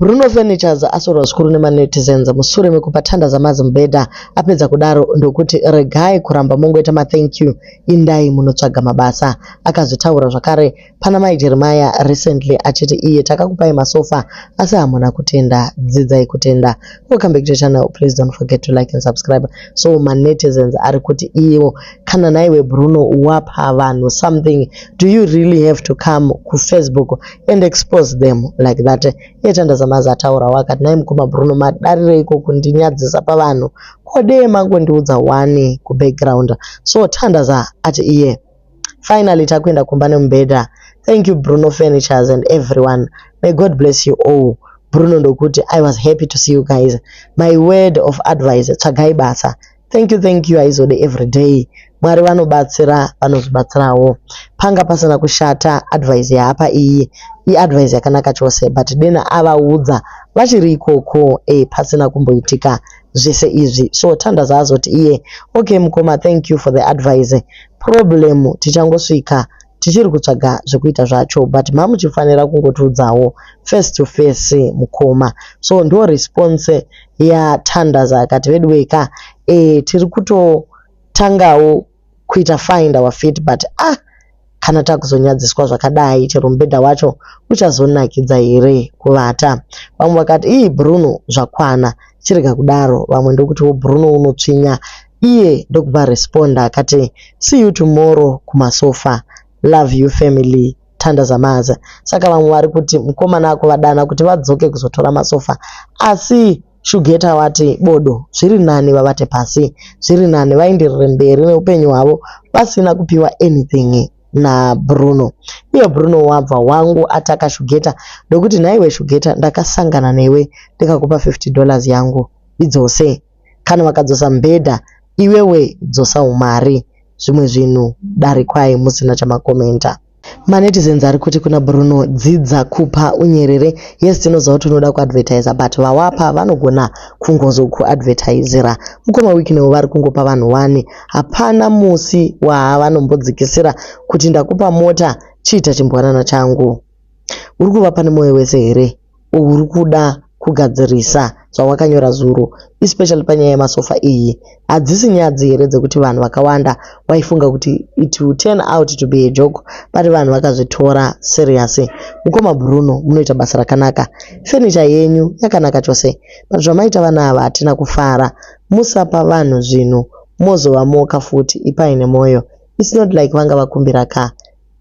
Bruno Furnitures asvorwa zvikuru nemanetizens musure mekupa tanda zaMazi mubhedha apedza kudaro ndokuti regai kuramba mongoita mathank you indai munotsvaga mabasa. Akazvitaura zvakare pana Mai Jeremiah recently achiti iye takakupai masofa asi hamuna kutenda, dzidzai kutenda. welcome back to the channel please don't forget to like and subscribe so manetizens ari kuti iwo kana naiwe bruno wapa vanhu something do you really have to come kufacebook and expose them like that yeta ndazamaza ataura wakati nai mukoma bruno madarireiko kundinyadzisa pavanhu kodee mangondiudza wani kubackground so tandaza ati iye yeah. Finally takuenda kumba nemubhedha. Thank you Bruno Furnitures and everyone. May God bless you all. Bruno ndokuti I was happy to see you guys. My word of advice tsvagai basa. Thank you, thank you haizode everyday. Mwari vanobatsira vanozvibatsirawo. Panga pasina kushata advice yaapa iyi. Iadvice yakanaka chose but dena avaudza vachiri ikoko eh, pasina kumboitika zvese izvi so tanda zvaazoti iye okay mukoma thank you for the advice Problem tichangosvika tichiri kutsvaga zvekuita zvacho but mamuchifanira kungotiudzawo face to face mukoma. So ndiyo response yaThandaza akati veduwee ka eh tiri kutotangawo kuita find our feet but ah kana takuzonyadziswa zvakadai chero mubhedha wacho uchazonakidza here kuvata. Vamwe vakati ii Bruno zvakwana chirega kudaro vamwe ndokuti wo Bruno unotsvinya. iye ndokubva responder akati see you tomorrow kumasofa love you family Thanda Zamaza saka vamwe vari kuti mukomana akuvadana kuti vadzoke kuzotora masofa asi Shugeta wati bodo zviri nani vavate pasi zviri nani vaenderere mberi neupenyu hwavo pasina kupiwa anything nabruno iye bruno wabva wangu ataka shugeta ndokuti nhaiwe shugeta ndakasangana newe ndikakupa 50 dollars yangu idzose kana vakadzosa mbhedha iwewe dzosa umari zvimwe zvinhu darikwai musina chamakomenta manetizens ari kuti kuna bruno dzidza kupa unyerere yes tinoziva kuti unoda kuadvertiser but vawapa vanogona kungozokuadvertisera mukoma wiknewo vari kungopa vanhu wani hapana musi waavanombodzikisira kuti ndakupa mota chiita chimbwanana changu uri kuvapa nemoyo wese here uri kuda kugadzirisa zvawakanyora zuro especially panyaya yemasofa iyi. Hadzisi nyadzi here dzekuti vanhu vakawanda waifunga kuti it will turn out to be a joke but vanhu vakazvitora serious. Mukoma Bruno munoita basa rakanaka. Furniture yenyu yakanaka chose but zvamaita vana ava hatina kufara. Musapa vanhu zvinhu mozovamoka futi ipai nemoyo. It's not like vanga vakumbira ka.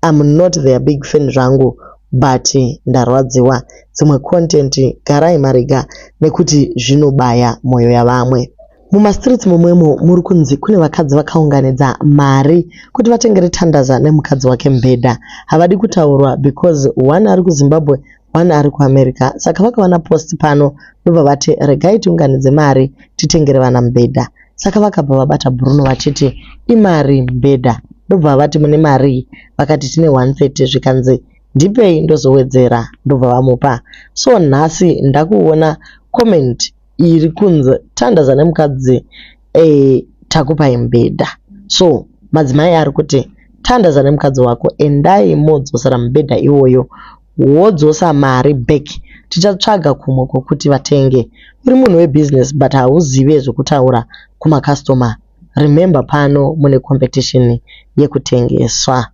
I'm not their big fan zvangu but ndarwadziwa. Dzimwe content garai marega nekuti zvinobaya moyo yavamwe. Mumastreets momwemo muri kunzi kune vakadzi vakaunganidza mari kuti vatengere Tandaza nemukadzi wake mbhedha. Havadi kutaurwa because one ari kuZimbabwe one ari kuamerica saka vakaona post pano ndobva vati regai tiunganidze mari titengere vana mubhedha saka vakabva vabata bruno vachiti imari mubhedha ndobva vati mune mari vakati tine 130 zvikanzi ndipei ndozowedzera ndobva vamupa so nhasi ndakuona comment iri kunzi tandaza nemukadzi e, takupai mubhedha so madzimai ari kuti tandaza nemukadzi wako endai modzosera mubhedha iwoyo wodzosa mari back tichatsvaga kumwe kwekuti vatenge. Uri munhu we business but hauzive zvekutaura kuma customer remember pano mune competition yekutengeswa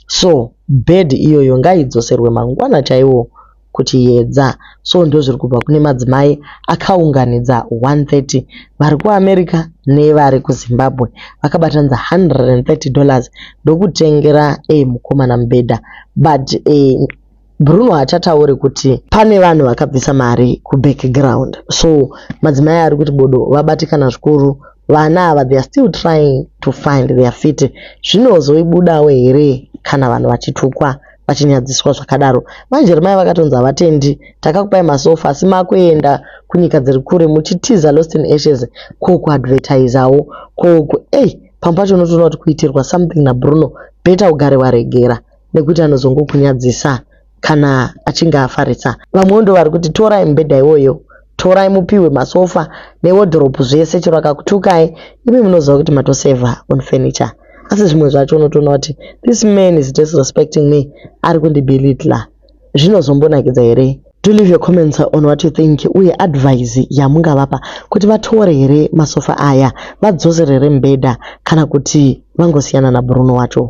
so bed iyoyo ngaidzoserwe mangwana chaiwo kuti yedza so ndozviri kubva kune madzimai akaunganidza 130 vari kuamerica nevari kuzimbabwe vakabatanidza 130 dollars ndokutengera e mukomana mubhedha but e, bruno hachatauri kuti pane vanhu vakabvisa mari kubackground so madzimai ari kuti bodo vabatikana zvikuru vana ava theyare still trying to find their fity zvinozoibudawo here kana vanhu vachitukwa vachinyadziswa zvakadaro. Mai Jeremiah vakatonzi havatendi, takakupai masofa asi makuenda kunyika dziri kure muchitiza lost in ashes ko kuadvertisawo ko ei pamwe pacho unotoona kuti kuitirwa something naBruno beta ugare waregera nekuti anozongokunyadzisa kana achinge afarisa. Vamwewo ndovari kuti torai mubhedha iwoyo torai mupihwe masofa newodhoropu zvese chero akakutukai imi munoziva kuti matosevha on furniture asi zvimwe zvacho unotoona kuti this man is disrespecting me ari kundibilitla zvinozombonakidza here do leave your comments on what you think uye advise yamungavapa kuti vatore here masofa aya vadzosere here mbeda kana kuti vangosiyana nabruno wacho